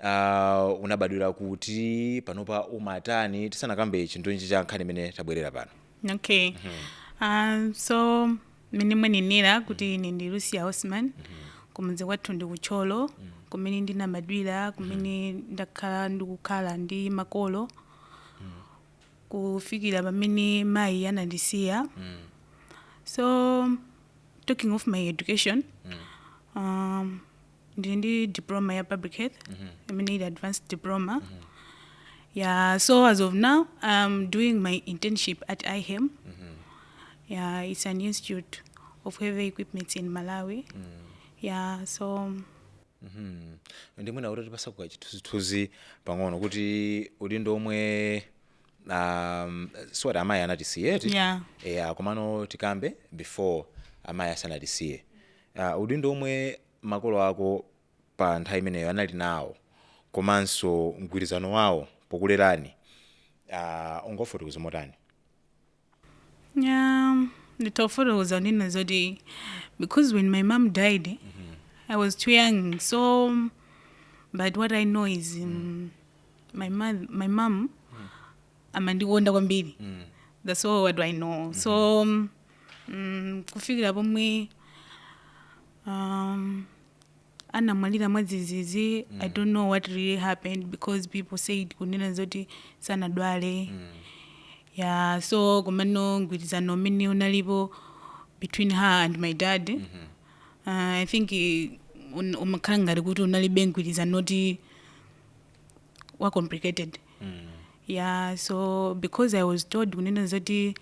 uh, unabadwira kuti panopa umatani tisanakambe chinthu ichi cha nkhani imene tabwerera pano okay um, so mmene mwanenera kuti ine ndi lucia osman kumudzi kwathu ndi ku Thyolo kumene ndinabadwira kumene ndakhala ndikukhala ndi makolo kufikira pamene mayi anandisiya so talking of my education um, ndili ndi diploma ya public health i mean advanced diploma yeah so as of now i'm doing my internship at ihem yeah it's an institute of heavy equipments in malawi yeah so ndiye mwina utipatseko chithunzithunzi pang'ono kuti udindo omwe um, siwati amayi anatisiya eti Yeah. yeah, komano tikambe before amayi asanatisiye uh, udindo omwe makolo ako pa nthawi imeneyo anali nawo komanso mgwirizano wawo pokulerani uh, ungafotokoze motani Yeah, nditafotokoza ndinena zoti because when my mom died mm -hmm. i was too young so but what i know is um, my, mother, my mom amandikonda kwambiri mm. that's all what i know mm -hmm. so mm, mm, kufikira pomwe um, anamwalira mwadzidzidzi mm. i don't know what really happened because people said kunena zoti sanadwale mm. yeah so komano mgwirizano umene unalipo between her and my dad mm -hmm. uh, i think umakhala ngati kuti unalibe mgwirizano woti wa complicated yeah so because i was told kunena zoti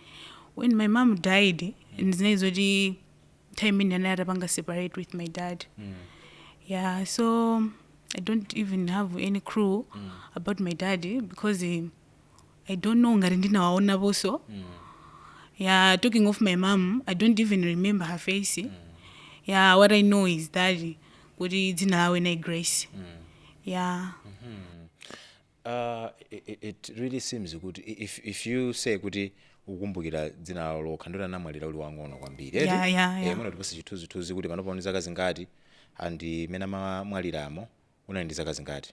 when my mom died ndinali zoti time imene anali atapanga separate with my dad yeah so i don't even have any clue about my dad because eh, i don't know ngati ndinawaonaponso ya talking of my mom i don't even remember her face ya what i know is that kuti dzina lawo linali grace ya Uh, it, it- it really seems kuti i- if, if you say kuti ukumbukira dzina lawo lokha ndiye kuti anamwalira uli wang'ono kwambiri eti? Yeah, yeah, Eh, yeah. mwina utipatse chithunzithunzi kuti panopa uli ndi zaka zingati and mmene amamwaliramo unali ndi zaka zingati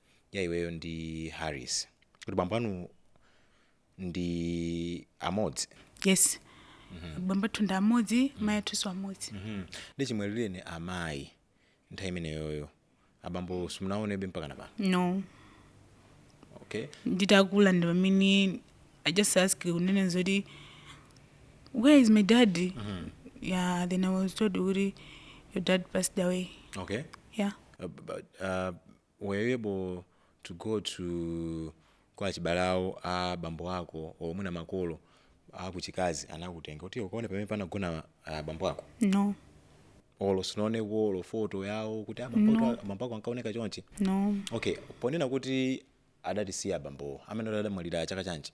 ya iweyo ndi harris kuti bambo anu ndi amodzi yes bambo athu ndi amodzi mayi athunso amodzi Mhm. ndiye chimwalireni amayi nthawi imeneyoyo abambo simunawaonebe mpaka na pano no okay nditakula ndi pamene i just ask kunena zoti where is my dad yeah then i was told kuti your dad passed away okay yeah Uh, but, uh, were you able to go to kwa achibale awo a bambo ako or mwina makolo akuchikazi anakutenga kuti ukaone pamene panagona ah, bambo ako no olo sunaoneko olo foto yawo kuti ah, bambo ako- bambo ako ankaoneka chonchi no okay ponena kuti adatisiya bambowo amene adamwalira chaka chanji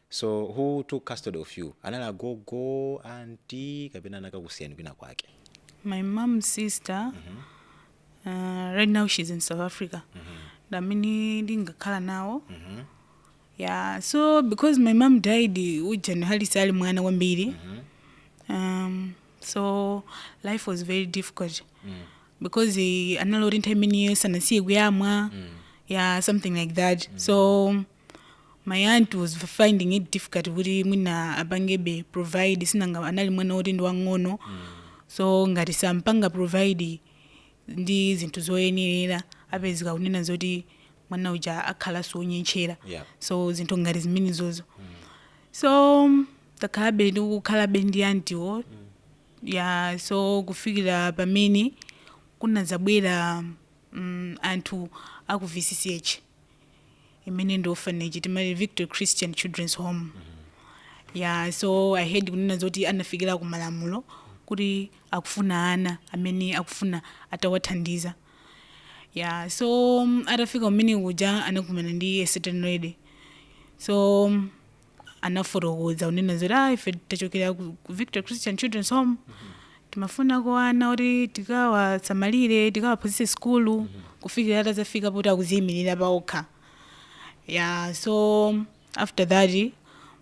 So who took custody of you? Anali agogo, anti kapena anakakusiyani kwina kwake? My mom sister mm -hmm. uh, right now she's in South Africa. Mm -hmm. Damini ndingakhala nawo. Mm -hmm. Yeah, so because my mom died ujani hali sali mwana kwambiri. Mm -hmm. Um so life was very difficult. Mm -hmm. Because uh, analorinta imene sanasiye kuyamwa. Mm -hmm. Yeah, something like that. Mm -hmm. So my aunt was finding it difficult kuti mwina apangebe provide si nanga anali mwana woti ndi wang'ono so ngati sampanga provide ndi zinthu zoyenerera apezeka kunena zoti mwana uja akhalanso wonyentchera Yeah. so zinthu ngati zimenezozo so takhalabe ndikukhalabe ndi antiwo ya so kufikira pamene kunadzabwera mm, anthu a ku VCCH imene ndi orphanage timati victory christian children's home mm -hmm. ya so i heard kunena zoti anafikira ku malamulo kuti akufuna ana amene akufuna atawathandiza ya so um, atafika kumeneko kuja anakumana ndi a certain lady so um, anafotokoza kunena zoti ah, ife tachokera ku ku victory christian children's home timafunako ana oti tikawasamalire tikawaphunzitse sukulu kufikira atadzafika poti akudziyimirira paokha yeah so after that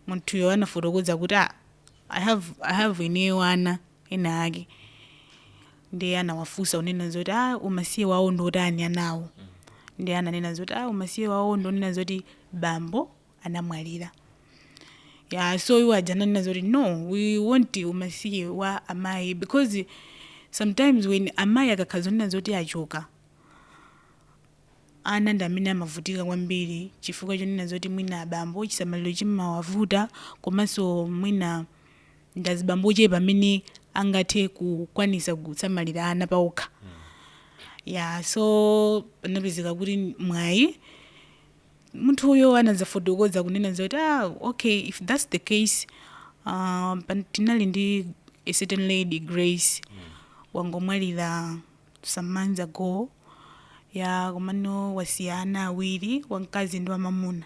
munthuyo anafotokoza kuti ah, i have i have ineyo ana enaake ndiye anawafunsa kunena zoti ah, umasiye wawo ndi otani anawo ndiye ananena zoti ah, umasiye wawo ndonena zoti bambo anamwalira ya so iwo aja ananena zoti no we want umasiye wa amayi because sometimes when amayi akakhala zonena zoti achoka ana ndi amene amavutika kwambiri chifukwa chonena zoti mwina abambo chisamaliro chimawavuta komanso mwina ndi azibambo ochepa amene angathe kukwanisa kusamalira ana paokha ya so panapezeka kuti mwayi munthuyo anadzafotokoza kunena zoti ah, okay if that's the case uh, pan- tinali ndi a certain lady grace wangomwalira some months ago ya komano wasiya ana awiri wamkazi ndi wamamuna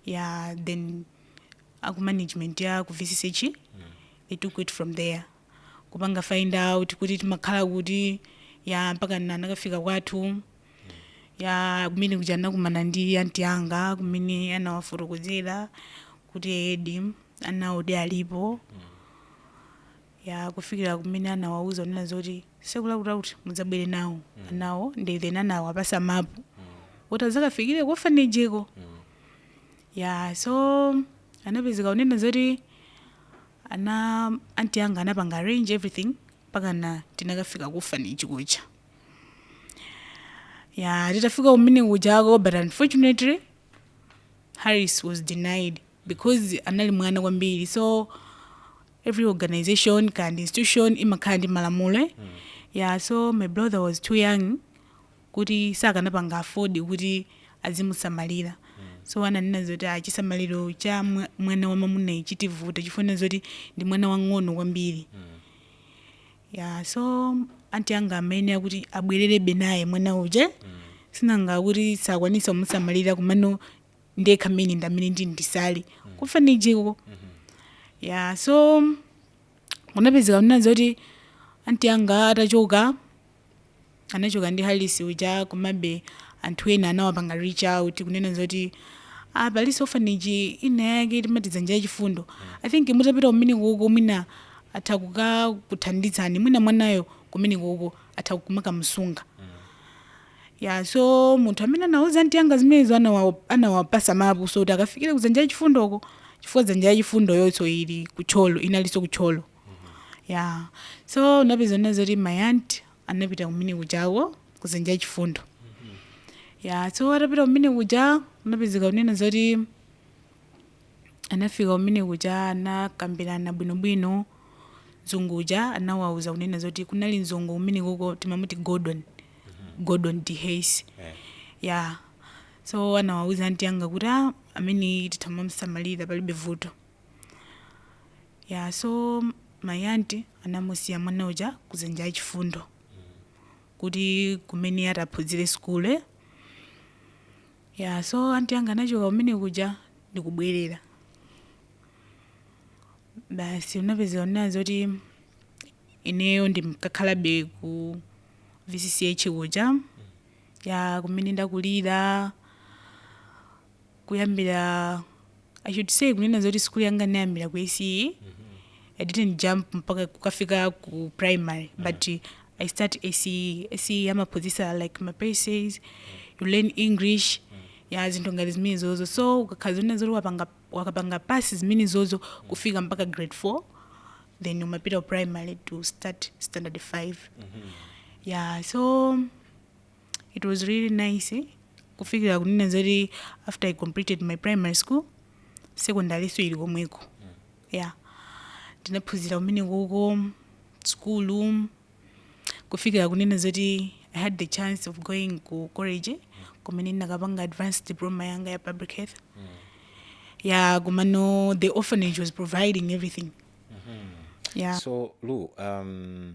ya then a ku management ya ku VCCH they took it from there kupanga find out kuti timakhala kuti ya mpaka na- anakafika kwathu ya kumene kuja anakumana ndi anti anga kumene anawafotokozera kuti eedi anawodi alipo ya kufikira kumene anawauza kunena zoti tsiku lakuti kuti mudzabwere nawo anawo ndi then anawapatsa mapu kuti adzakafikire ku orphanageko ya so anapezeka kunena zoti ana anti anga anapanga arrange everything pakana tinakafika ku orphanage kuja ya titafika kumene kujako but unfortunately harris was denied because anali mwana kwambiri so every organization and institution imakhala ndi malamulo eh? yeah so my brother was too young kuti sakanapanga afford kuti azimusamalira so ananena zoti ah, chisamaliro cha mwa- mwana wamwamunayu chitivuta chifukwa zoti ndi mwana wang'ono kwambiri ya so anti anga amayenera kuti abwererebe naye mwana uja sinanga kuti sakwanisa kumusamalira komano ndekha amene ndamene ndi nditsale ku orphanage ko ya so kunapezeka kunena zoti anti anga atachoka anachoka ndi Harris uja komabe anthu ena anawapanga reach out kunena zoti ah palinso orphanage ina yake timati dzanja lachifundo i think mutapita kumene kuko mwina atha kukakuthandizani mwina mwanayo kumene kuko atha kumakamusunga ya so munthu amene anauza anti anga zimenezo anawa- anawapasa mapu so kuti akafikire kudzanja lachifundoko chifukwa dzanja lachifundo yonso ili ku Thyolo inalinso ku Thyolo ya so unapezeka kunena zoti my aunt anapita kumene kujako kudzanja lachifundo ya so atapita kumene kuja unapezeka kunena zoti anafika kumene kuja anakambirana bwinobwino mzungu uja anawauza kunena zoti kunali mzungu kumene kuko timamuti gordon gordon d hayes ya so anawauza anti anga kuti "Ah, amene titha kumamsamalira palibe vuto ya so my aunt anamusiya mwana uja kudzanja lachifundo kuti ku mmene ataphunzire sukulu ya so anti yanga anachoka kumene kuja ndikubwerera basi unapezeka kunena zoti ineyo ndimkakhalabe ku vcch kuja ya kumene ndakulira kuyambira i should say kunena zoti sukulu yanga ndinayambira ku ace i didn't jump mpaka kukafika ku primary but i start ace ace amaphunzitsa like ma paces you learn english ya zinthu ngati zimene zozo so ukakhala zonena zoti wapanga wakapanga pass zimene zozo kufika mpaka grade 4 then umapita ku primary to start standard 5 yeah so It was really nice kufikira kunena zoti after I completed my primary school secondary nso ili komweko yeah ndinaphunzira kumene kuko sukulu kufikira kunena zoti I had the chance of going ku college kumene ndinakapanga advanced diploma yanga ya public health yeah komano the orphanage was providing everything yeah so lu um,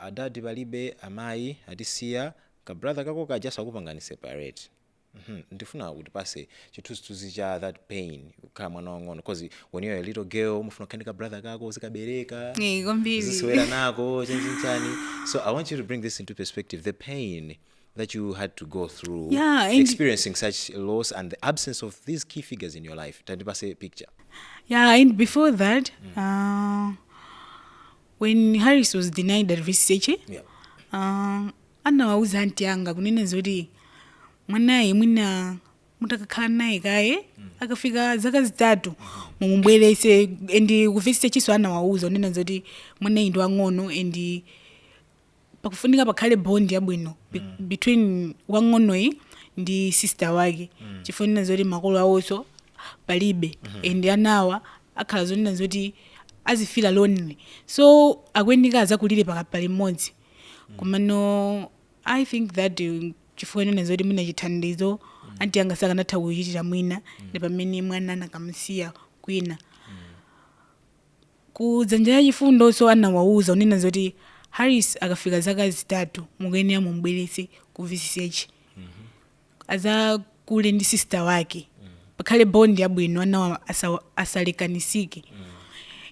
adad palibe amayi atisiya ka brother kako kaja sakupangani separate mmh ndifuna utipatse chithunzithunzi cha that pain kukhala mwana wang'ono coz when you're a little girl umafuna kukhala ndi ka brother kako uzikabereka Eh, kwambiri uzisewera nako chanichani so i want you to bring this into perspective the pain that you had to go through Yeah, and- experiencing such loss and the absence of these key figures in your life tandipatse picture yeah and before that uh, when harris was denied at VCH Yeah. uh, anawauza anti anga kunena zoti mwanayu mwina mutakakhala naye kaye akafika zaka zitatu mumubweretse and ku VCH nso anawauza kunena zoti mwanayu ndi wang'ono and pakufunika pakhale bond yabwino be- between wang'onoyi ndi sister wake chifukwa chonena zoti makolo awonso palibe and anawa akhala zonena zoti azifila lonely so akuyenera azakulire pa- pa limodzi komano i think that uh, chifukwa chonena zoti mwina chithandizo anti anga sakanatha kuchitira mwina ndi pamene mwana anakamusiya kwina Ku Dzanja la Chifundo so anawauza kunena zoti Harris akafika zaka zitatu mukuyenera mumubweretse ku VCH adzakule ndi sister wake pakhale bond yabwino anawa asa, asalekanisike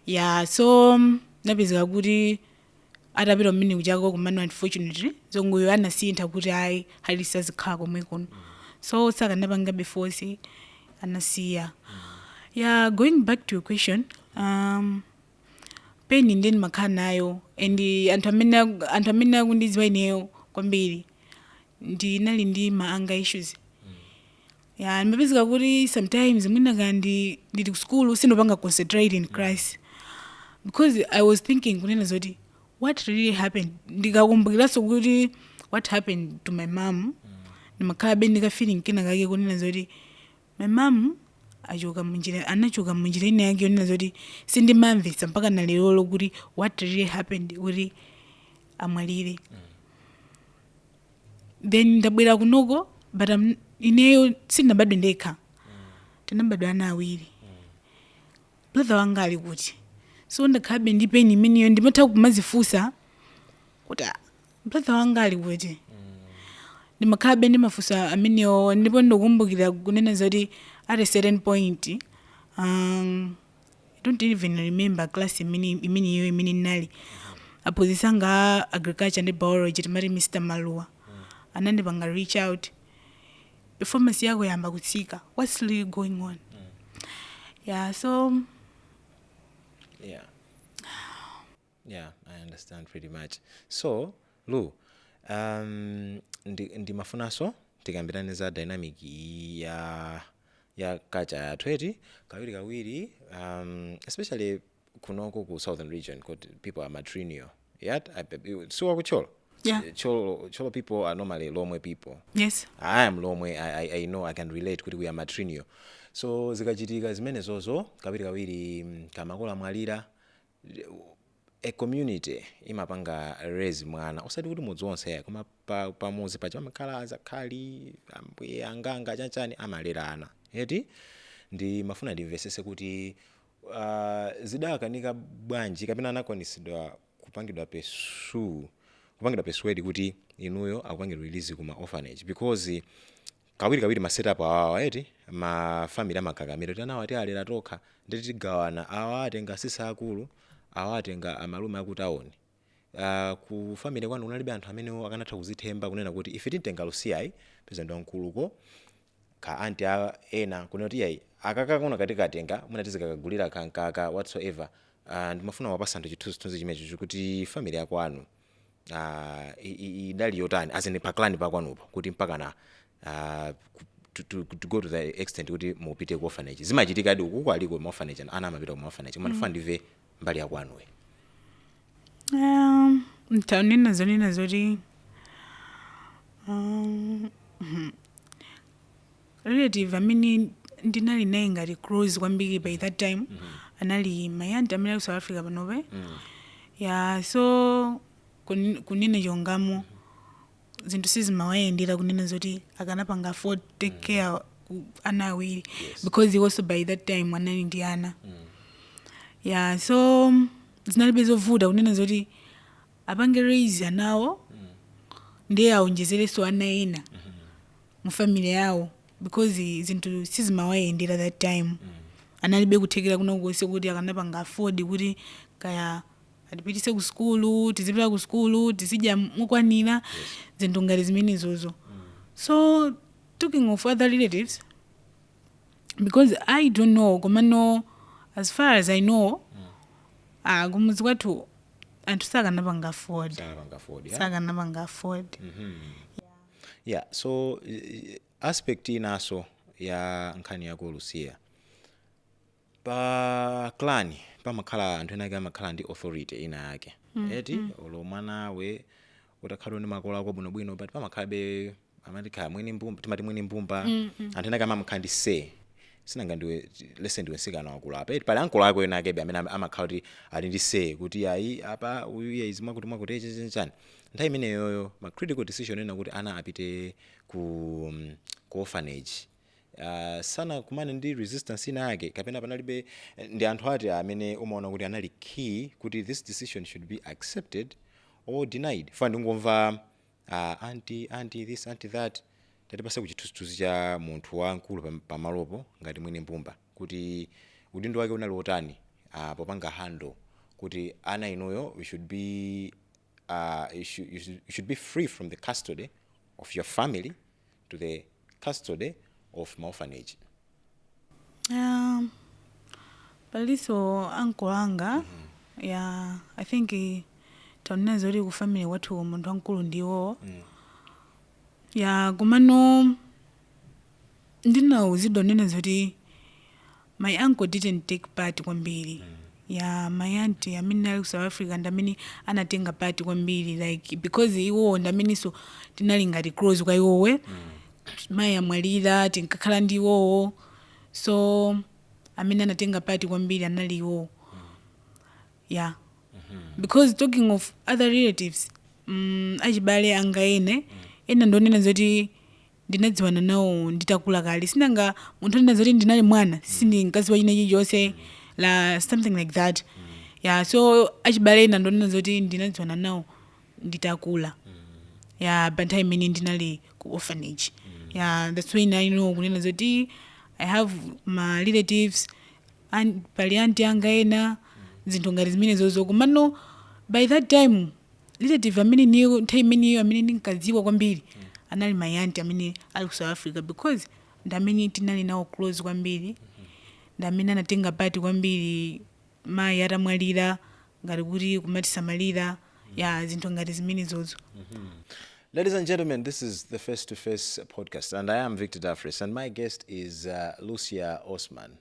ya so napezeka kuti atapita kumene kuchako komano unfortunately zongoyo anasintha kuti ayi Harris azikhala komwe kuno so sakanapangabe force anasiya yeah going back to your question um, pain ndiye ndimakhala nayo and anthu amene aku- anthu amene akundidziwa ineyo kwambiri ndinali ndi ma anger issues ya ndimapezeka kuti sometimes mwina kaya ndi ndili ku sukulu sindopanga concentrate in class because i was thinking kunena zoti what really happened ndikakumbukiranso kuti what happened to my mom ndimakhalabe ndi ka feeling kena kake kunena zoti my mom achoka munjira anachoka munjira ina yake yonena zoti sindimamvetsa mpaka na lerolo kuti what really happened kuti amwalire then ndabwera kunoko but I'm- ineyo sindinabadwe ndekha, tinabadwa ana awiri brother wanga ali kuti so ndakhalabe ndi pain imeneyo ndimatha kumazifunsa kuti "Ah, brother wanga ali kuti ndimakhalabe ndi mafunso amenewo ndipo ndikumbukira kunena zoti at a certain point um, I don't even remember class imene imeneyo imene ndinali aphunzitsi anga a agriculture ndi biology timati Mr. Maluwa anandipanga reach out performance yako yayamba kutsika what's really going on yeah so yeah Yeah, I understand pretty much. So, Lou, um, ndi, ndimafunanso tikambirane za dynamic iyi ya ya culture yathu eti kawiri kawiri um, especially kunoko ku southern region kuti people are matrilineal eti si wa ku Thyolo Yeah. Thyolo Thyolo people are normally lomwe people Yes. I am Lomwe. I, I, I know I can relate kuti we are matrilineal. So zikachitika zimenezozo kawiri kawiri mm, ka makolo amwalira a community imapanga raise mwana osati kuti mudzi wonse yayi koma pa, pa muzi paja pamakhala azakhali ambuye anganga chanchani amalera ana eti ndimafuna ndimvesese kuti uh, zidakanika bwanji kapena anakwanisidwa kupangidwa persu- kupangidwa persuade kuti inuyo akupangeni release kuma orphanage because kawirikawiri ma setup awawa eti ma family amakakamira kuti anawa tialera tokha ndi kuti tigawana awa atenga asisi akulu awa atenga amalume akutawoni uh, ku family kwanu kunalibe anthu amene akanatha kuzithemba kunena kuti ife titenga Lucia yayi peza ndi wamkuluko ka aunt ena kunena kuti yayi akakako katikatenga mwina tizikakagulira kankaka whatsoever uh, ndimafuna tiwapatse anthu chithunzithunzi chimenecho kuti family yakwanu ah, i- i- idali yotani as in pa clan pakwanupo kuti mpakana ah, ku- to, to, to go to the extent kuti mupite ku orphanage zimachitikadi ukuko aliko ma orphanage and ana amapita ku ma orphanage koma ndifuna ndive mbali yakwanuyo Um, ntanena zonena zoti um, mhm. Relative amene ndinali naye ngati close kwambiri by that time anali my aunt amene ali ku South Africa panopa. Ya so kun- kunena chilungamo zinthu sizimawayendera kunena zoti akanapanga afford ku take care ana awiri because he also by that time anali ndi ana. ya so zinalibe zovuta kunena zoti apange raise anawo ndiye aonjezerenso ana ena mu family yawo because zinthu sizimawayendera that time analibe kuthekera kulikonse kuti akanapanga afford kuti kaya atipitise ku sukulu tizipita ku sukulu tizidya mokwanira zinthu ngati zimenezozo so talking of other relatives because i don't know komano as far as i know ah kumuzi kwathu anthu sakanapanga afford sakanapanga afford yeah. sakanapanga afford Mhm. Yeah, so eh, aspect inaso ya nkhani yako Lusiya pa clan pamakhala anthu ena ake amakhala ndi authority ina yake eti olo mwanawe utakhala ndi makolo ako bwinobwino but pamakhalabe amati kaya mwini mbumba timati mwini mbumba anthu ena ake amamkhala ndi say sinanga ndiwe Lucy ndiwe nsikana wakulu apa eti pali ankolo ako ena akebe amene am- amakhala kuti ali ndi say kuti ayi apa uyu iye izimwa kuti mwakuti chani nthawi imeneyoyo ma critical decision ena kuti ana apite ku ku orphanage uh, sanakumane ndi resistance ina yake kapena panalibe eh, ndi anthu ati amene umaona kuti anali key kuti this decision should be accepted or denied fa ndingomva uh, anti anti this anti that tatipatse ko chithunzithunzi cha munthu wamkulu pam- pamalopo ngati mwini mbumba kuti udindo wake unali wotani uh, popanga handle kuti ana inuyo we should be uh, you, should, you, should, you should be free from the custody of your family to the custody of ma orphanage. Um, paliso ankolo anga ya i think eh, ndionena zoti ku family kwathu munthu wamkulu ndiwo ya komano ndinauzidwa kunena zoti my uncle didn't take part kwambiri ya my auntie amene ali ku south africa ndi amene anatenga part kwambiri like because iwowo ndi amenenso tinali ngati close kwa iwowe mayi atamwalira tinkakhala ndi iwowo so amene anatenga part kwambiri anali iwowo ya because talking of other relatives mm, achibale anga ena ena ndionena zoti ndinadziwana nawo nditakula kale sinanga munthu onena zoti ndinali mwana sindinkadziwa china chilichonse ya something like that ya so achibale ena ndionena zoti ndinadziwana nawo nditakula ya by time imene ndinali ku orphanage ya that's why now I know kunena zoti i have ma relatives and pali aunt anga ena zinthu ngati zimenezozo komano by that time relative amene ineyo nthawi imeneyo amene ndinkadziwa kwambiri anali my aunt amene ali ku south africa because ndi amene tinali nawo close kwambiri ndi amene anatenga part kwambiri mayi atamwalira ngati kuti kumatisamalira ya zinthu ngati zimenezozo Ladies and gentlemen, this is the Face to Face podcast, and I am Victor Dafris, and my guest is uh, Lucia Osman.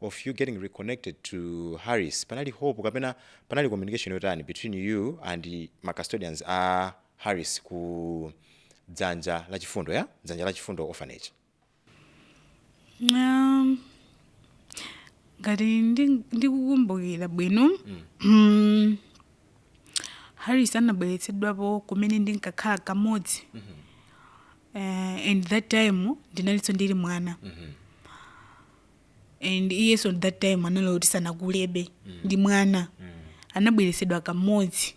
of you getting reconnected to Harris panali hope kapena panali communication yotani between you and ma custodians a Harris ku dzanja la chifundo ya dzanja la chifundo orphanage Um, ngati ndi- ndikukumbukira bwino mm, Harris anabweretsedwapo kumene ndinkakhala kamodzi Eh, and that time ndinalinso ndili mwana and iyenso at that time anali kuti sanakulebe ndi mwana anabweretsedwa kamodzi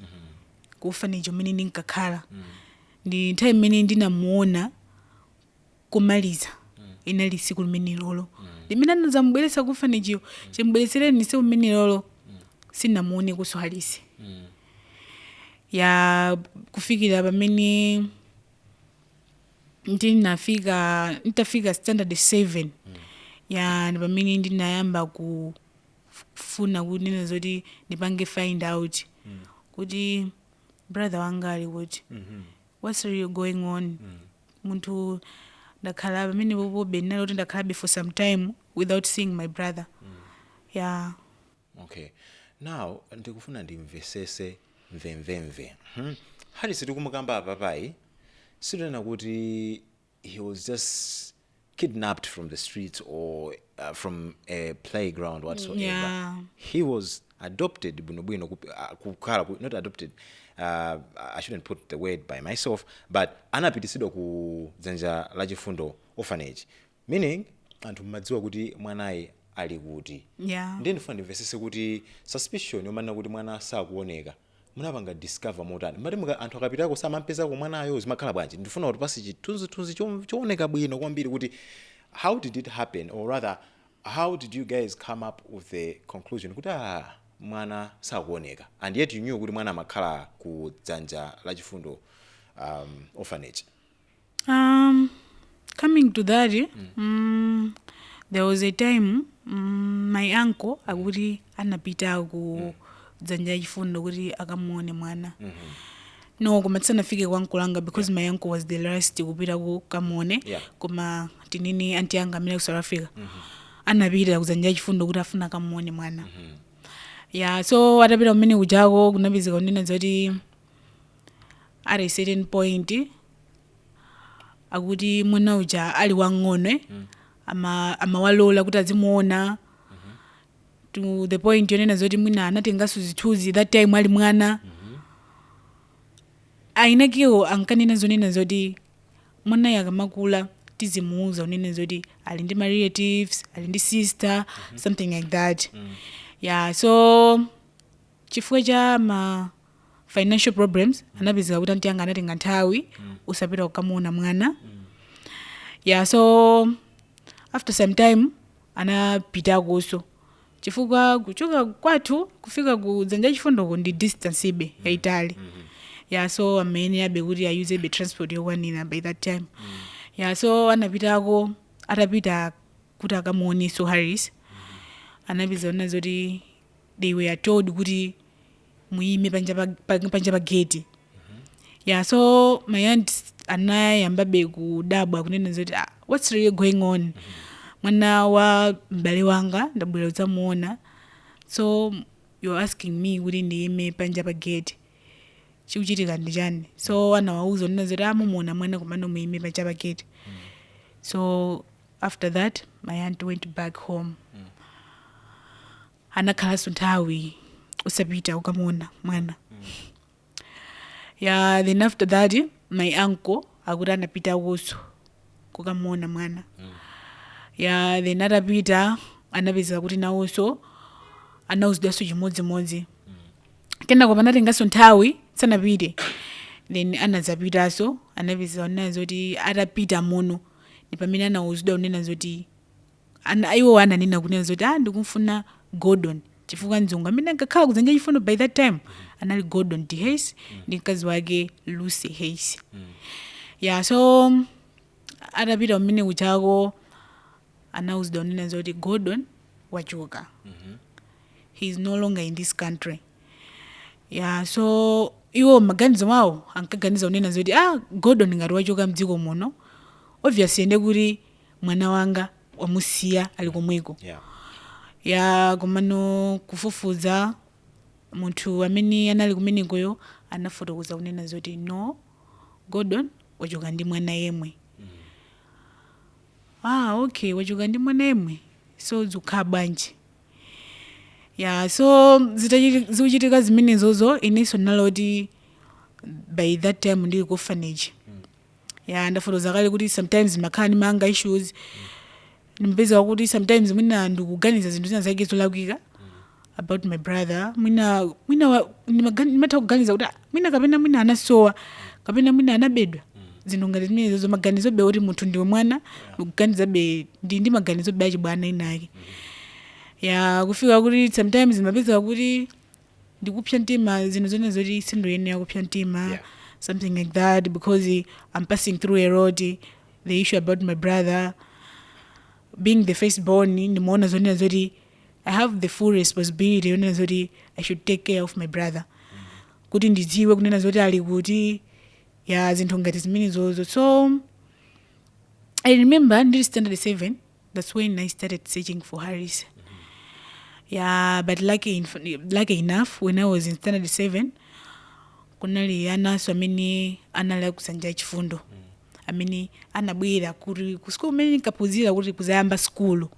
ku orphanage kumene ndinkakhala ndi nthawi imene ndinamuona kumaliza inali tsiku limenelolo limene anadzamubweretsa ku orphanage-yo chimubweretsereni tsiku limenelolo sinamuonekenso Harris ya kufikira pamene ndinafika nditafika standard 7 ya ndi pamene ndinayamba kufuna kunena zoti ndipange find out kuti brother wanga ali kuti what's really going on munthu ndakhala pamenepopobe ndinali kuti ndakhalabe for some time without seeing my brother yeah okay now ndikufuna ndimvesese mvemvemve hmm? Harris tikumukamba apapayi situnena kuti he was just kidnapped from the streets or uh, from a playground whatsoever Yeah. he was adopted bwinobwino kup- uh, kukhala ku- not adopted uh, i shouldn't put the word by myself but anapitisidwa ku dzanja la chifundo orphanage meaning anthu mmadziwa kuti mwanayi ali kuti Yeah. ndiye ndifuna ndimvesese kuti suspicion yomanena kuti mwana sakuoneka Munapanga discover motani? Mumati muka anthu akapitako samampezako mwanayo? Zimakhala bwanji? Ndifuna utipase chithunzithunzi chooneka bwino kwambiri kuti how did it happen or rather how did you guys come up with the conclusion kuti aah mwana sakuoneka and yet you knew kuti mwana amakhala ku dzanja la chifundo um, orphanage. Um, coming to that, eh, mm, there was a time mm, my uncle akuti anapita ku Dzanja la Chifundo kuti akamuone mwana no koma tisanafike kwa uncle anga because my uncle was the last kupita kukamuone Yeah. koma tinini anti anga amene ku South Africa anapita ku Dzanja la Chifundo kuti afuna akamuone mwana ya so atapita kumene kujako kunapezeka kunena zoti at a certain point akuti mwana uja ali wamng'ono ama- amawalola kuti azimuona to the point yonena zoti mwina anatenganso zithunzi that time ali mwana ainakiwo ankanena zonena zoti mwanayo akamakula tizimuuza kunena zoti ali ndi ma relatives ali ndi sister something like that yeah so chifukwa cha ma financial problems anapezeka kuti anti anga anatenga nthawi osapita kukamuona mwana yeah so after some time anapitakonso chifukwa kuchoka kwathu kufika ku Dzanja la Chifundoko ndi distance-be yaitali yeah so amayenerabe kuti ayuzebe transport yokwanira by that time yeah so anapitako atapita kuti akamuoneso Harris anapeza kunena zoti they were told kuti muyime panja pa, pa, panja pa gate yeah so my aunt anayambabe kudabwa kunena zoti ah, what's really going on mwana wa m'bale wanga ndabwera kudzamuona so you're asking me kuti ndiyime panja pa gate chikuchitika ndi chani so anawauza kunena zoti ah mumuona mwana komano muyime panja pa gate so after that my aunt went back home anakhalanso nthawi osapita kukamuona mwana ya then after that my uncle akuti anapitakonso kukamuona mwana ya then atapita anapeza kuti nawonso anauzidwanso chimodzimodzi kenako panatenganso nthawi sanapite then anadzapitanso anapeza kunena zoti atapita mmomo ndi pamene anauzidwa kunena zoti Ana, iwowa ananena kunena zoti ah ndikumfuna Gordon chifukwa mzungu amene ankakhala ku Dzanja la Chifundo by that time anali Gordon de Hayes ndi mkazi wake Lucy Hayes. Yeah, so atapita kumene kujako anauzidwa kunena zoti Gordon wachoka. He is no longer in this country. Yeah, so iwo mmaganizo mwawo ankaganiza kunena zoti ah Gordon ngati wachoka mdziko muno obviously ndi kuti mwana wanga wamusiya ali komweko Yeah. ya komano kufufuza munthu amene anali kumenekoyo anafotokoza kunena zoti no gordon wachoka ndi mwana yemwe ah okay wachoka ndi mwana yemwe so zikhala bwanji ya so zitachiti- zikuchitika zimenezozo inenso ndinali oti by that time ndili ku orphanage ya ndafotokoza kale kuti sometimes ndimakhala ndi ma anger issues ndimapeza kuti sometimes mwina ndikuganiza zinthu zina zake zolakwika about my brother mwina mwina wa- ndimaga- ndimatha kuganiza kuti "Ah, mwina kapena mwina anasowa kapena mwina anabedwa zinthu ngati zimenezozo maganizobe oti munthu ndiwe mwana ndikuganizabe ndi ndi maganizobe achibwana inake ya kufika kuti sometimes ndimapeza kuti ndikupsa mtima zinthu zonena zoti sindoyenera kupsa mtima Yeah. something like that because i'm passing through a lot the issue about my brother being the first born ndimaona zonena zoti i have the full responsibility yonena zoti i should take care of my brother kuti ndidziwe kunena zoti ali kuti ya zinthu ngati zimenezozo so i remember ndili standard 7 That's when I started searching for Harris. Yeah, but lucky, inf- lucky enough, when I was in standard 7, kunali ananso amene anali a ku Dzanja la Chifundo amene anabwera ku school kumene ndinkaphunzira kuti kuzayamba skulu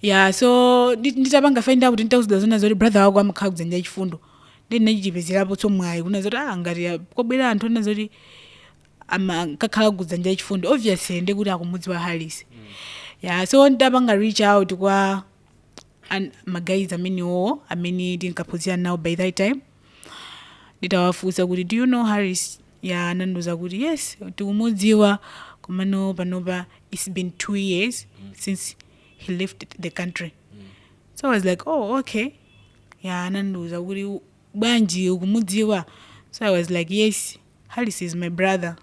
ya so ndi- nditapanga find out atandiuza zonena zoti brother wako amakhala ku Dzanja la Chifundo ndi ndinachipezerapo mwayi kunena zoti ah ngati ah, kwabwera anthu onena zoti amakakhala ku Dzanja la Chifundo obviously nde kuti akumudziwa Harris ya so nditapanga reach out kwa an- magayizi amenewo amene tinkaphunzira nawo by that time nditawafunsa kuti do you know harris ya anandiuza kuti yes tikumudziwa komano panopa it's been two years since he left the country so i was like oh okay ya anandiuza kuti bwanji ukumudziwa so i was like yes harris is my brother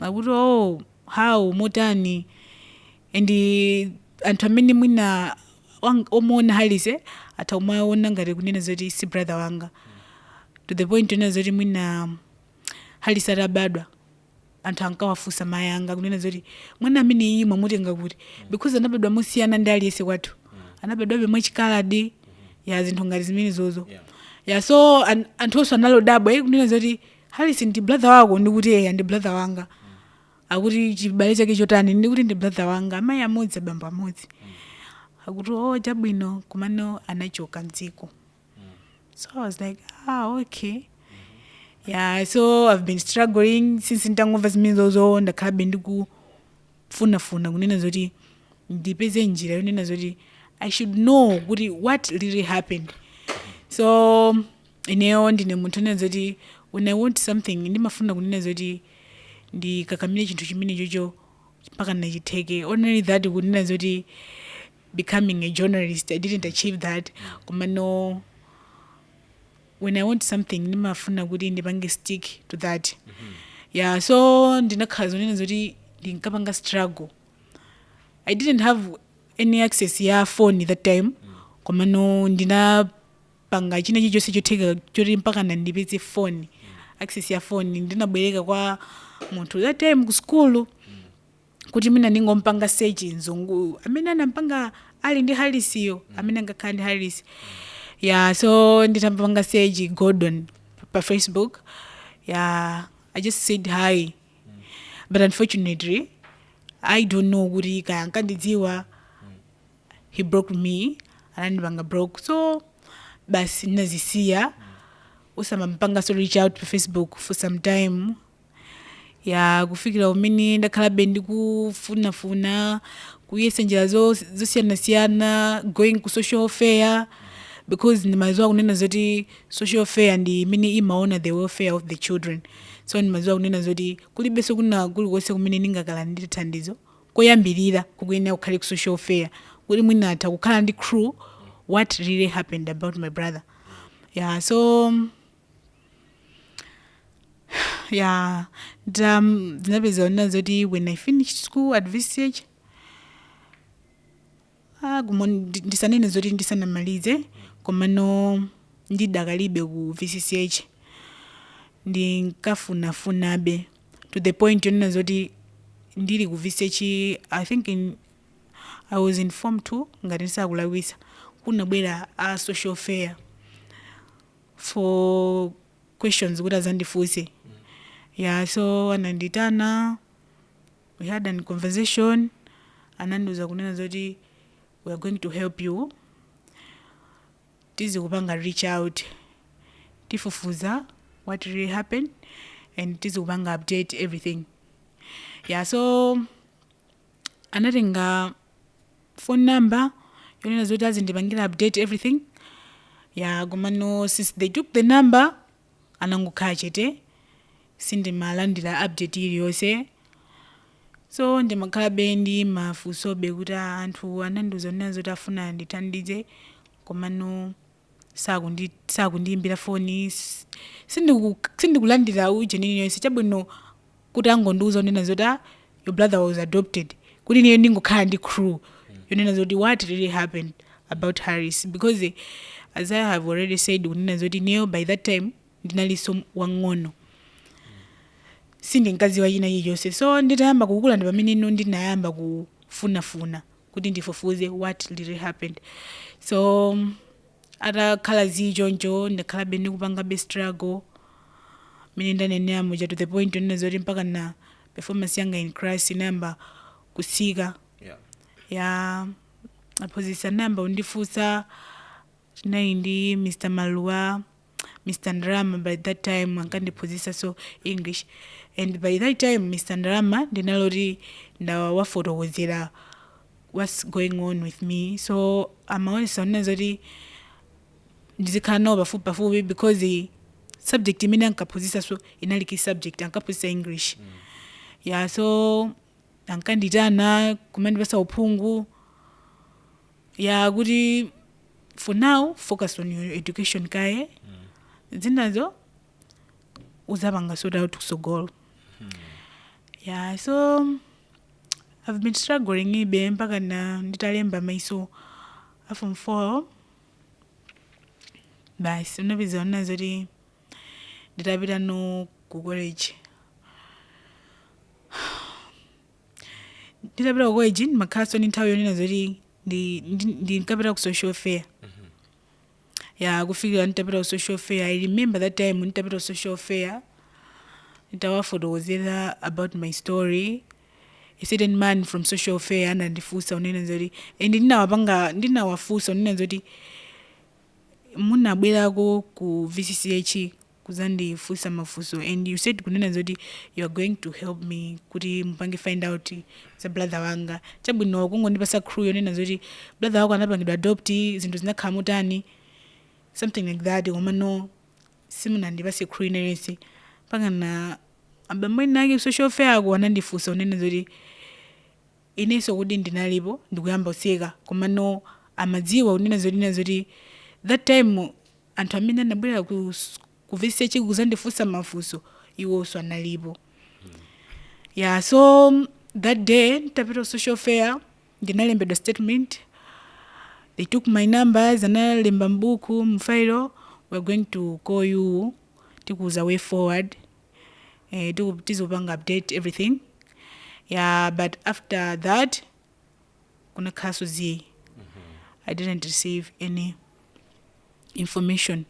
akuti oh how motani and eh, anthu amene mwina wang- omuona harris eh, atha kumaona ngati kunena zoti si brother wanga to the point onena zoti mwina harris atabadwa anthu ankawafunsa mayi anga kunena zoti mwana ameneyu mwamutenga kuti because anabadwa mosiyana ndi aliyense kwathu anabadwabe mwachikaladi ya zinthu ngati zimenezozo Yeah. ya so an, anthu onse anali odabwa iye kunena zoti harris ndi brother wako ndikuti eya ndi brother wanga akuti chibale chake chotani ndikuti ndi brother wanga amayi amodzi abambo amodzi akuti o chabwino komano anachoka mdziko so i was like ah okay yeah so i've been struggling since nditangomva zimene zozo ndakhalabe ndikufunafuna kunena zoti ndipeze njira yonena zoti i should know kuti what really happened so ineyo ndine munthu onena zoti when i want something ndimafuna kunena zoti ndikakamire chinthu chimene chocho mpaka nachitheke only that kunena zoti becoming a journalist I didn't achieve that komano when I want something ndimafuna kuti ndipange stick to that yeah so ndinakhala zonena zoti ndinkapanga struggle I didn't have any access ya phone that time komano ndinapanga china chilichonse chotheka choti mpaka ndipeze phone access ya phone ndinabwereka kwa munthu that time ku school kuti mwina ndingompanga search mzunguyu amene anampanga ali ndi Harris-yo amene angakhala ndi Harris ya so nditampanga search gordon pa facebook ya i just said hi but unfortunately i don't know kuti kaya ankandidziwa he blocked me anandipanga block so basi ndinazisiya osamampanganso reach out pa facebook for some time ya kufikira kumene ndakhalabe ndikufunafuna kuyesa njira zo- zosiyanasiyana going ku social welfare because ndimaziwa kunena zoti social welfare ndi imene imaona the welfare of the children so ndimaziwa kunena zoti kulibenso kwina kulikonse kumene ndingakalandire thandizo koyambirira kukuyenera kukhale ku social welfare kuti mwina atha kukhala ndi clue what really happened about my brother yeah so ya ndam- zinapezeka zonena zoti when i finished school at vch ah, kumo ndi- ndisanene zoti ndisanamalize komano ndidakalibe ku vch ndinkafunafunabe to the point yonena zoti ndili ku vch i think in, i was in form two ngati sindikulakwisa kunabwera a social welfare for questions kuti azandifunse ya so anandiitana we had an conversation anandiuza kunena zoti we are going to help you tizikupanga reach out tifufuza what really happened and tizikupanga update everything ya so anatenga phone number yonena zoti azindipangira update everything ya komano since they took the number anangokhala chete sindimalandira update iliyonse so ndimakhalabe ndi mafunsobe kuti anthu anandiuza zonena zoti afuna andithandize komano sakundi sakundiyimbira foni s- sindiku sindikulandira ujeni iliyonse chabwino kuti angondiuza kunena zoti ah, your brother was adopted kuti ineyo ndingokhala ndi crew yonena zoti what really happened about harris because eh, as i have already said kunena zoti ineyo by that time ndinalinso wang'ono sindinkadziwa china chilichonse so nditayamba kukula ndi pamene ino ndinayamba kufunafuna kuti ndifufuze what really happened so atakhala zii choncho ndakhalabe ndikupangabe struggle mene ndanenera muja to the point onena zoti mpaka na performance yanga in class inayamba kutsika yeah. ya aphunzitsi anayamba kundifunsa tinali ndi mr maluwa Mr Ndalama by that time ankandiphunzisanso English and by that time Mr Ndalama ndinaloti ndawafotokozera what's going on with me so amaonesa onena zoti ndizikhala nawo pafupi pafupi because the subject imene ankaphunzisanso inali key subject ankaphunzisa English ya so ankanditana kumandipasa uphungu ya kuti for now focus on your education kaye zinazo uzapanga sort out kusogolo ya so i've been struggling ibe mpaka na nditalemba mayeso a form four basi unapeza ona zoti nditapita no ku college nditapita ku college ndimakhalanso ndi nthawi yonena zoti ndi- ndi- ndinkapita ku social welfare ya kufikira nditapita ku social welfare i remember that time nditapita ku social welfare nditawafotokozera about my story a certain man from social welfare anandifunsa unena zoti and ndinawapanga ndinawafunsa unena zoti munabwerako ku vcch kudzandifunsa mafunso and you said kunena zoti you are going to help me kuti mupange find out za brother wanga chabwino kungondipasa clue yonena zoti brother wako anapangidwa adopt zinthu zinakhala motani something like that komano simunandipase clue ina iliyonse mpakana abambo ena ake social welfare ako anandifunsa unena zoti inenso kuti ndinalipo ndi kuyamba kuseka komano amadziwa kunena zoti nena zoti that time anthu amene anabwera ku, s- ku VCCH kuzandifunsa mafunso iwonso analipo yeah so that day nditapita ku social welfare ndinalembedwa statement they took my numbers analemba mbuku mfayilo we're going to call you tikuuza way forward eh, tiku- tizikupanga update everything yeah but after that kunakhalanso zii i didn't receive any information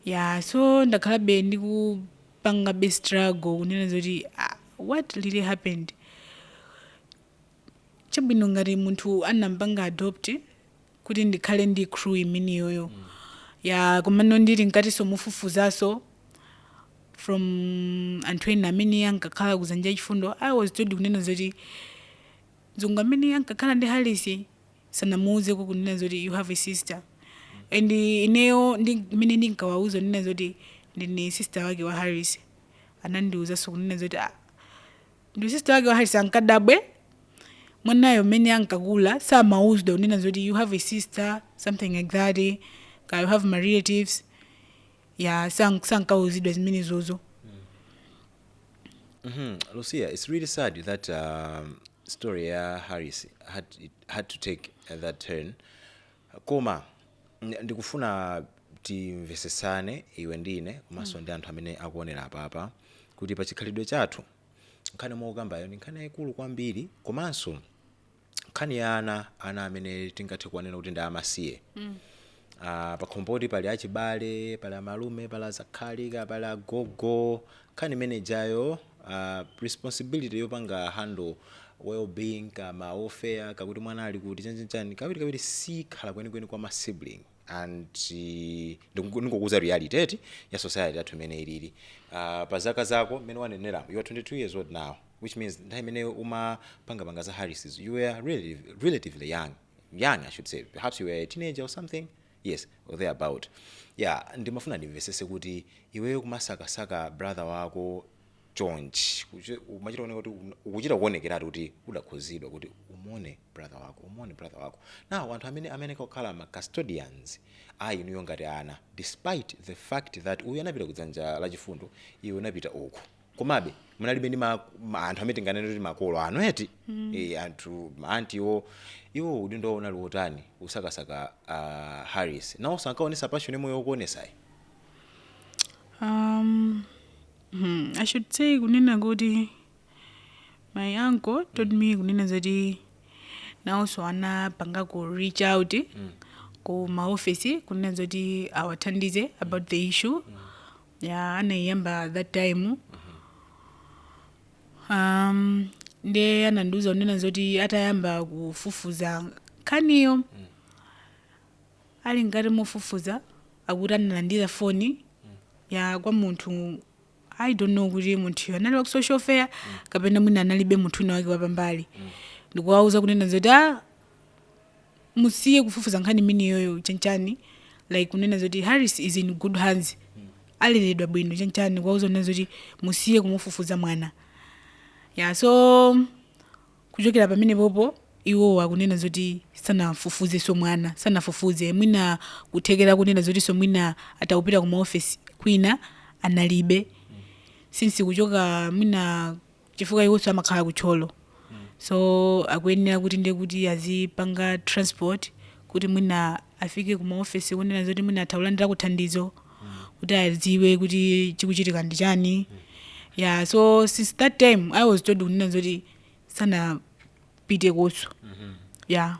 yeah so ndakhalabe ndikupangabe struggle kunena zoti ah, what really happened chabwino ngati munthu anamupanga adopt kuti ndikhale ndi clue imeneyoyo ya komano ndili mkatinso mofufuzanso from anthu ena amene ankakhala ku Dzanja la Chifundo i was told kunena zoti mzungu amene ankakhala ndi harris sanamuuzeko kunena zoti you have a sister and ineyo ndi imene ndinkawauza kunena zoti ndine sister wake wa harris anandiuzanso kunena zoti ah, Ndipo sister wake wa Harris ankadabwe mwanayo mmene ankakula samauzda unena zoti you have a sister something like that ka you have my relatives ya sank- sankauzidwa zimenezozo Mhm. Lucia, it's really sad that um, story ya Harris had, it had to take uh, that turn. Koma ndikufuna timvetsetsane iwe ndi ine komanso ndi anthu amene akuonera apapa kuti pa chikhalidwe chathu nkhani yomwe ukukambayo ndi nkhani yayikulu kwambiri komanso nkhani ya ana, ana amene tingathe kuwanena kuti ndi amasiye. Ah, pakhomo poti pali achibale, pali amalume, pali azakhali, ka- pali agogo, Nkhani imene ijayo aah responsibility yopanga handle well being kapena welfare ya kuti mwana ali kuti chani chani chani kawiri kawiri sikhala kwenikweni kwa ma sibling and ndikungo ndingokuuza reality eti ya society yathu mmene ilili aah pa zaka zako mmene waneneramu you are 22 years old now which means nthawi imene umapanga panga za Harris zo you were really relatively young young I should say perhaps you were a teenager or something Yes or thereabout yeah ndimafuna ndimvesese kuti iweyo kumasakasaka brother wako chonchi kuchi- umachita kuoneka kuti un- ukuchita kuonekeratu kuti udakhuzidwa kuti umuone brother wako umuone brother wako now anthu amene amene ankakhala ma custodians a inuyo ngati ana despite the fact that uyu anapita kudzanja la chifundo iwe unapita uku komabe munalibe ndi ma- ma- anthu amene tinganene kuti makolo anu eti mm. e, anthu maanti iwo iwo udindo wawo unali wotani posakasaka uh, harris nawonso ankaonesa passion imene ukuonesayi Um, hmm, I should say kunena kuti my uncle told me kunena zoti nawonso anapanga ku reach out ku maofesi kunena zoti awathandize about the issue ya anaiyamba that time um, nde anandiuza kunena zoti atayamba kufufuza nkhaniyo ali mkati mofufuza akuti analandira foni ya kwa munthu i don't know kuti munthuyo anali wa ku social welfare kapena mwina analibe munthu wina wake wapambali ndikuwauza kunena zoti a musiye kufufuza nkhani imene iyoyo chanchani like kunena zoti harris is in good hands aleredwa bwino chanchani kuwauza kunena zoti musiye kumufufuza mwana ya so kuchokera pamene popo iwo akunena zoti sanafufuzenso mwana sanafufuze mwina kuthekera kunena zotinso mwina atakupita ku maofesi kwina analibe since kuchoka mwina chifukwa iwonso amakhala ku Thyolo so akuyenera kuti ndiye kuti azipanga transport kuti mwina afike ku maofesi kunena zoti mwina atha kulandirako thandizo kuti adziwe kuti chikuchitika ndi chani yeah so since that time i was told kunena zoti sanapite koso yeah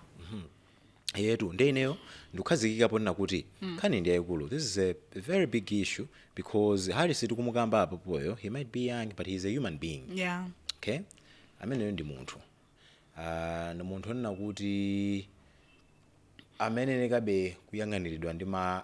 eyetu nde ineyo ndikukhazikika ponena kuti nkhani ndi yayikulu this is a very big issue because harris tikumukamba apopoyo he might be young but he is a human being yeah okay ameneyo ndi munthu Ah, ndi munthu onena kuti amayenekabe kuyang'aniridwa ndi ma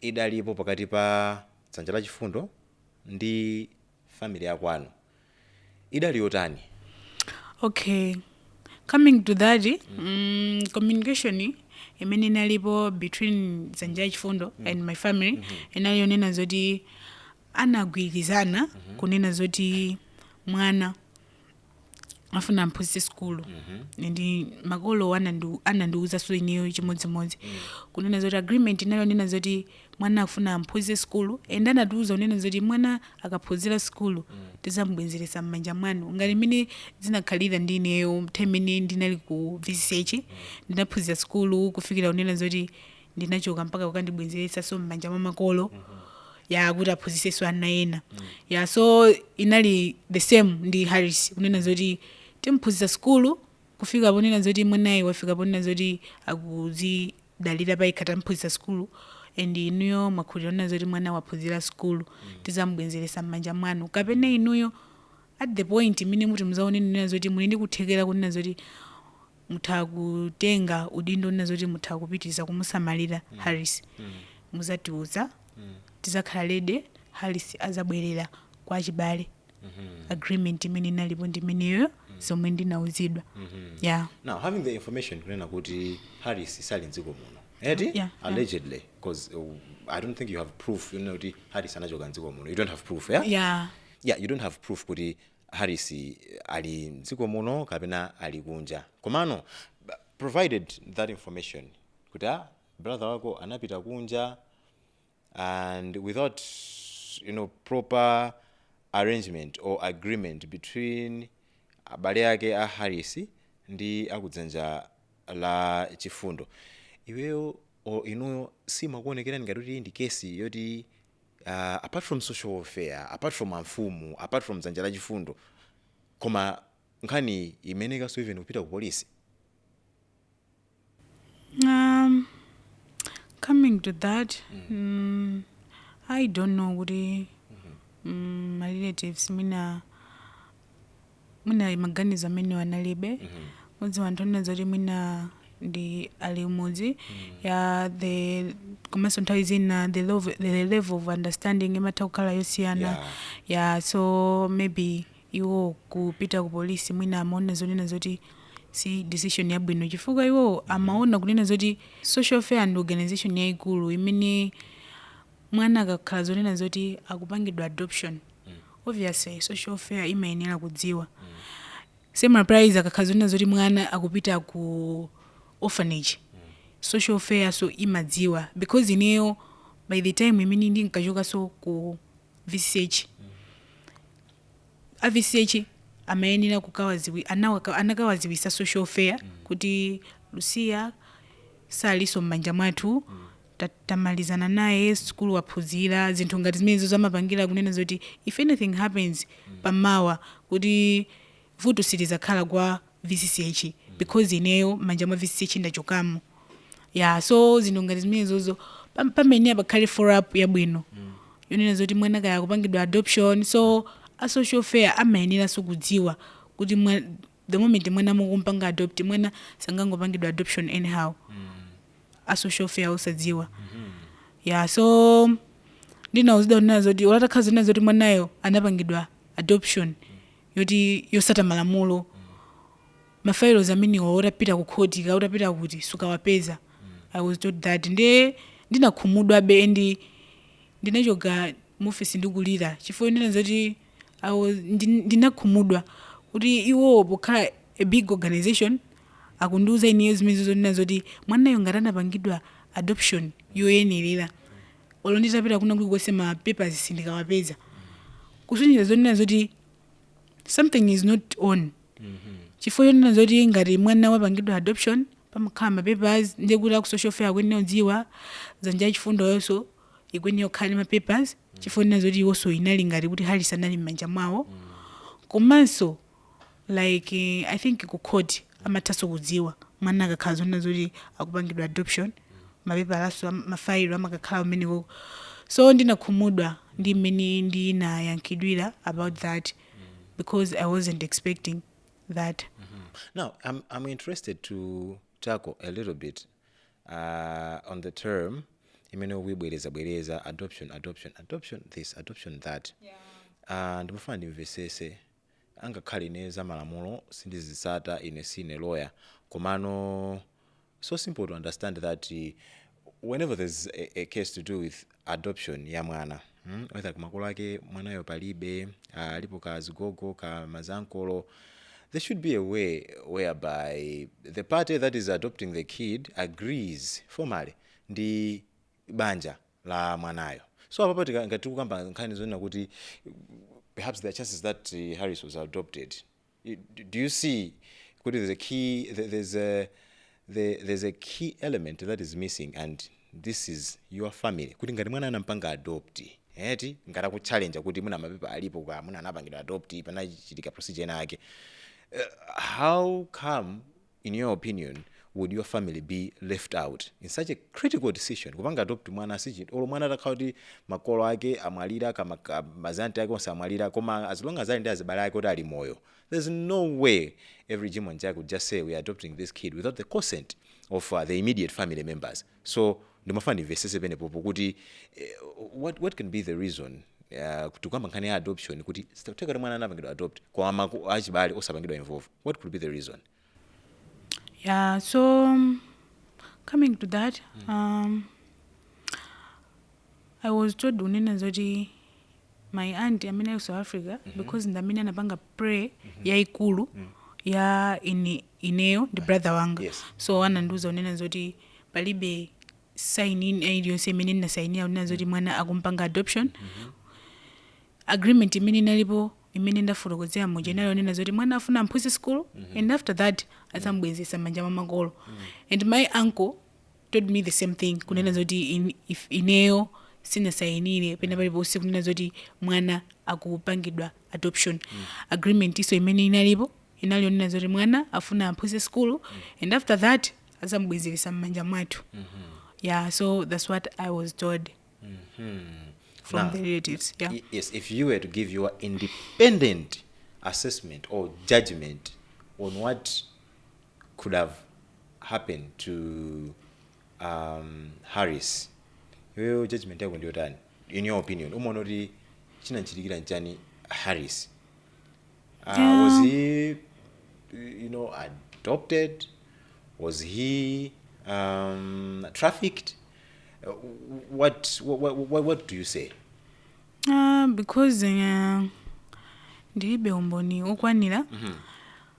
idalipo pakati pa dzanja la chifundo ndi family ya kwanu idali yotani? okay coming to that mm, communication imene inalipo between dzanja la chifundo and my family inali yonena zoti anagwirizana kunena zoti mwana afuna amphunzitse sukulu ndi makolo anandu- anandiwuzanso ineyo chimodzimodzi kunena zoti agreement inali yonena zoti mwana afuna amphunzitse sukulu and anatiwuza kunena zoti mwana akaphunzira sukulu tizamubwenzeretsa m'manja mwanu ngati mmene zinakhalira ndi ineyo nthawi imene ndinali ku vch ndinaphunzira sukulu kufikira kunena zoti ndinachoka mpaka kukandibwenzeretsanso m'manja mwa makolo ya kuti aphunzisenso ana ena ya so inali the same ndi harris kunena zoti timphunzitsa sukulu kufika ponena zoti mwanayi wafika ponena zoti akuzidalira payekha tamphunzitsa sukulu and inuyo mwakhulira kunena zoti mwana waphunzira sukulu tizamubwenzeretsa m'manja mwanu kapena inuyo at the point imene muti muzaone kunena zoti muli ndi kuthekera kunena zoti mutha kutenga udindo onena zoti mutha kupitiliza kumusamalira Harris muzatiuza tizakhala ready Harris azabwerera kwa achibale agreement imene inalipo ndi imeneyo zomwe ndinauzidwa yeah now having the information kunena kuti harris sali mdziko muno eti Yeah, yeah. allegedly because uh, i don't think you have proof yonena kuti harris anachoka mdziko muno you don't have proof yeah? yeah yeah you don't have proof kuti Harris ali mdziko muno kapena ali kunja komano provided that information kuti a ah, brother wako anapita kunja and without you know proper arrangement or agreement between abale ake a Harris ndi akudzanja la chifundo iweyo inuyo simakuonekerani ngati kuti ndi kesi yoti uh, apart from social welfare apart from amfumu apart from dzanja la chifundo koma nkhani imeneyi kaso even kupita ku polisi Um, coming to that, mm. I don't know kuti mm, my relatives mwina mwina maganizo amenewo analibe mudziwa anthu onena zoti mwina ndi a kumudzi ya the komanso nthawi zina the level of understanding imatha kukhala yosiyana Yeah. ya so maybe iwo kupita ku polisi mwina amaona zonena zoti si decision yabwino chifukwa iwo amaona kunena zoti social welfare ndi organization yaikulu imene Mwana akakhala zonena zoti akupangidwa adoption obviously social welfare imayenera kudziwa. Same applies akakhala zonena zoti mwana akupita ku orphanage social welfare nso imadziwa because ineyo by the time imene ndinkachokanso ku VCCH a VCCH amayenera kukawadziwi anawaka anakawadziwitsa social welfare kuti Lucia salinso mmanja mwathu tamalizana naye sukulu waphunzira zinthu ngati zimenezo amapangira kunena zoti if anything happens pa mawa kuti vuto silidzakhala kwa VCCH because ineyo mmanja mwa VCCH ndachokamo ya so zinthu ngati zimenezozo pam- pamayenera pakhale follow up yabwino yonena zoti mwana kaya akupangidwa adoption so a social welfare amayeneranso kudziwa kuti mwa- the moment mwana mukumpanga adopt mwana sangangopangidwa adoption anyhow a social welfare osadziwa ya so ndinauzidwa kunena zoti olo atakhala zonena zoti mwanayo anapangidwa adoption yoti yotsata malamulo ma files amenewa utapita ku khoti ka utapita kuti sukawapeza i was told that nde ndinakhumudwabe and ndinachoka mu office ndikulira chifukwa yonena zoti awo ndi, ndinakhumudwa kuti iwowo pokhala a big organization akundiuza ineyo zimenezo zonena zoti mwanayo ngati anapangidwa adoption yoyenerera olo nditapita kuna kulikonse ma papers sindikawapeza kusonyeza zonena zoti something is not on chifukwa chonena zoti ngati mwana wapangidwa adoption pamakhala ma papers ndiye kuti aku social welfare akuyenera kudziwa dzanja la chifundoyonso ikuyenera kukhala ndi ma papers chifukwa chonena zoti iwonso inali ngati kuti Harris anali m'manja mwawo komanso like eh, i think ku court amathanso kudziwa mwana akakhala zonena zoti akupangidwa adoption mapepalanso mafailo amakakhala umeneko so ndinakhumudwa ndi mmene ndinayankhidwira about that because i wasn't expecting that Now, I'm, I'm interested to tackle a little bit uh, on the term imene ukuyibwereza bwereza adoption adoption adoption this adoption that uh, ndimafuna ndimvesese angakhale ine za malamulo sindizisata ine sine lawyer komano so simple to understand that uh, whenever there's a, a case to do with adoption ya mwana mm? whether kamakolo ake mwanayo palibe uh, alipo ka zigogo ka mazankolo there should be a way whereby the party that is adopting the kid agrees formally ndi banja la mwanayo so apapo tika- ngati tikukamba nkhani zonena kuti perhaps there are chances that uh, harris was adopted You- d- do you see kuti there's a key there- there's a there- there's a key element that is missing and this is your family kuti ngati mwana anampanga adopt eti ngati akuchallenge kuti mwana mapepa alipo kuti mwana anapangidwa adopt panachitika procedure ina yake uh, how come in your opinion would your family be left out in such a critical decision kupanga adopt mwana sichinthu olo mwana atakhala kuti makolo ake amwalira kapena ka- mazanti ake onse amwalira koma as long as ali ndi azibale ake kuti ali moyo there's no way every Jim and Jack would just say we are adopting this kid without the consent of uh, the immediate family members So ndimafuna ndimvesese penepopo kuti eh, what, what can be the reason Uh, tikukamba nkhani ya adoption kuti zitatheka kuti mwana anapangidwa adopt koma achibale osapangidwa involve what could be the reason Yeah, so um, coming to that, um, I was told kunena zoti my aunt amene ali ku south africa because ndi amene anapanga play yaikulu ya ine, ineyo ndi brother wanga Yes. so anandiuza kunena zoti palibe sign ina iliyonse imene ndinasainira kunena zoti mwana akumpanga adoption agreement imene inalipo imene ndafotokozera muja inali yonena zoti mwana afuna amphunzitse school and after that adzambwezesa m'manja mwa makolo and my uncle told me the same thing kunena zoti in, if ineyo sinasayinire pena paliponse kunena zoti mwana akupangidwa adoption agreement-nso imene inalipo inali yonena zoti mwana afuna amphunzitse sukulu and after that azamubwezeresa m'manja mwathu yeah so that's what i was told from Now, the relatives yeah. Y- Yes, if you were to give your independent assessment or judgment on what could have happened to um, harris iweyo judgment yako ndiyotani in your opinion umaona kuti chinanchitikira nchani harris uh, yeah. was he you know adopted was he um, trafficked uh, what, what, what, what do you say Ah, because uh, ndilibe umboni okwanira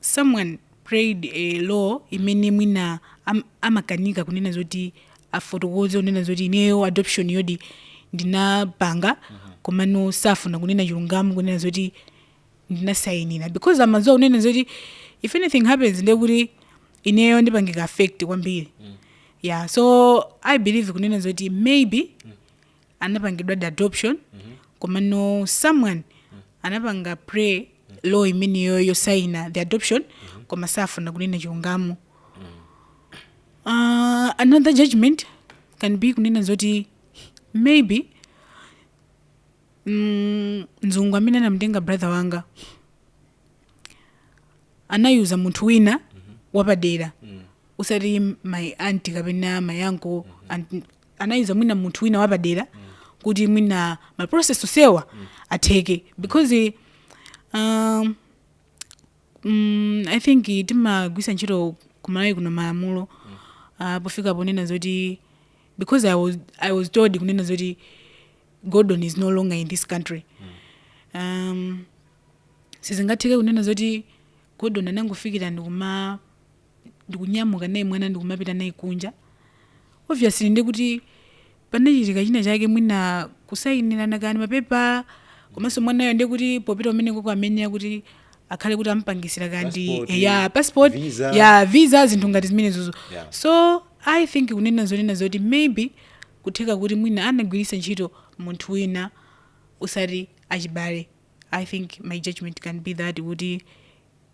someone played a role imene mwina am, amakanika kunena zoti afotokoze kunena zoti ineyo adoptionyodi ndinapanga komano safuna kunena chilungamo kunena zoti ndinasayinira because amadziwa kunena zoti if anything happens ndiye kuti ineyo ndipangidwa affect kwambiri yeah so i believe kunena zoti maybe anapangidwadi adoption komano someone anapanga play role imeneyo yosaina the adoption koma safuna kunena chilungamo uh, another judgment can be kunena zoti maybe mm, mzungu amene anamtenga brother wanga anayuza munthu wina wapadera usati my auntie kapena my uncle mm anayuza mwina munthu wina wapadera kuti mwina ma process osewa atheke because um, mm, i think timagwiritsa ntchito ku Malawi kuno malamulo uh, pofika ponena zoti because I was, i was told kunena zoti gordon is no longer in this country um, sizingatheke kunena zoti gordon anangofikira ndikuma ndikunyamuka naye mwana ndikumapita naye kunja obviously ndiye kuti panachitika china chake mwina kusayinirana kani mapepala komanso mwanayo ndiye kuti popita kumenekoko amayenera kuti akhale kuti ampangitsira kani Passport, eh, ya passport visa. ya visa zinthu ngati zimenezozo Yeah. so i think kunena zonena zoti maybe kutheka kuti mwina anagwiritsa ntchito munthu wina usati achibale i think my judgment can be that kuti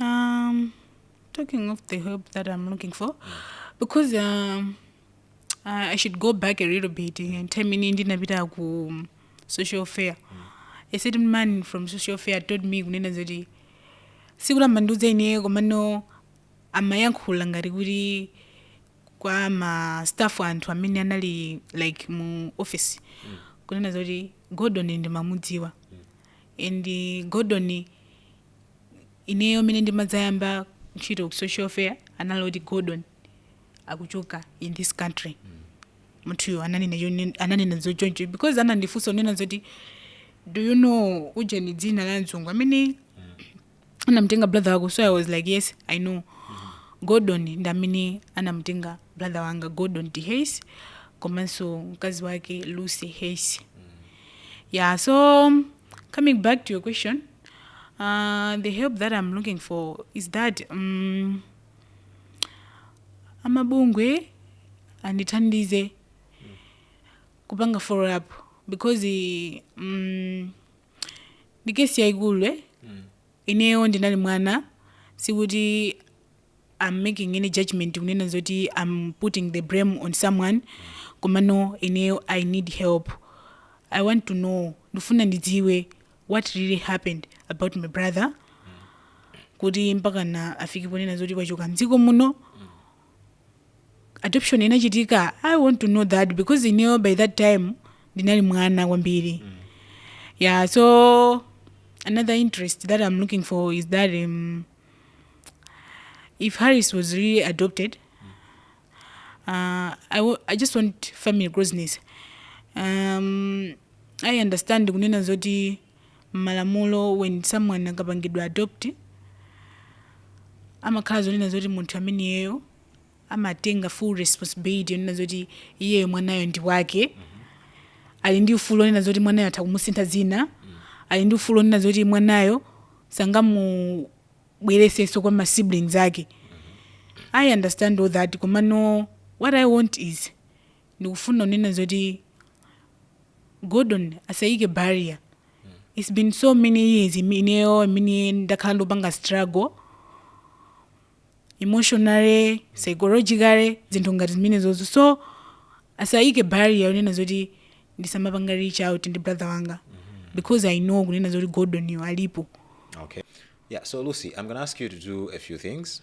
Um, talking of the help that I'm looking for, because um, I I should go back a little bit nthawi imene ndinapita ku social welfare. A certain man from social welfare told me kunena zoti sikuti amandiuza ine komano amayankhula ngati kuti kwa ma staff anthu amene anali like mu office kunena zoti Gordon ndimamudziwa and Gordon ineyo mene ndimadzayamba ntchito ku social welfare anali kuti Gordon akuchoka in this country munthuyo ananena chone- ananena zochoncho because anandifunsa kunena zoti do you know ujeni dzina la mzungu amene anamtenga brother wako so i was like yes i know gordon ndi amene anamtenga brother wanga gordon d hayes komanso mkazi wake lucy hayes yeah so coming back to your question uh, the help that i'm looking for is that um, amabungwe andithandize kupanga follow up because eh, mm, ndi kesi yaikulu eh? ineyo ndinali mwana sikuti i'm making any judgment kunena zoti i'm putting the blame on someone komano ineyo i need help i want to know ndifuna ndidziwe what really happened about my brother kuti mpakana afike ponena zoti wachoka mdziko muno adoption inachitika i want to know that because ineyo by that time ndinali mwana kwambiri yeah so another interest that i'm looking for is that um, if harris was really adopted uh, I, wa- I just want family closeness um, i understand kunena zoti mmalamulo when someone akapangidwa adopt amakhala zonena zoti munthu ameneyo amatenga full responsibility yonena zoti iyeyo mwanayo ndi wake ali ndi ufulu onena zoti mwanayo atha kumusintha dzina ali ndi ufulu onena zoti mwanayo sangamubweresenso kwa ma siblings ake i understand all that komano what i want is ndikufuna kunena zoti gordon asayike barrier it's been so many years imi- ineyo imene ndakhala ndikupanga struggle emotionally psychologically zinthu ngati zimenezozo so asayike barrier kunena zoti ndisamapanga reach out ndi brother wanga because i know kunena zoti gordon yo alipo Okay. Yeah, so Lucy, I'm going to ask you to do a few things.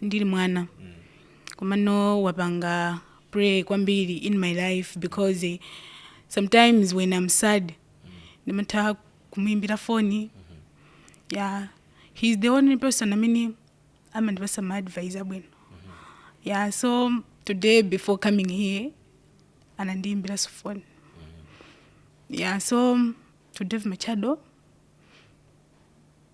ndili mwana komano wapanga pray kwambiri in my life because eh, sometimes when i'm sad ndimatha kumuimbira foni yeah he's the only person amene amandipasa ma advice abwino yeah so today before coming here anandiimbira foni yeah so to dave machado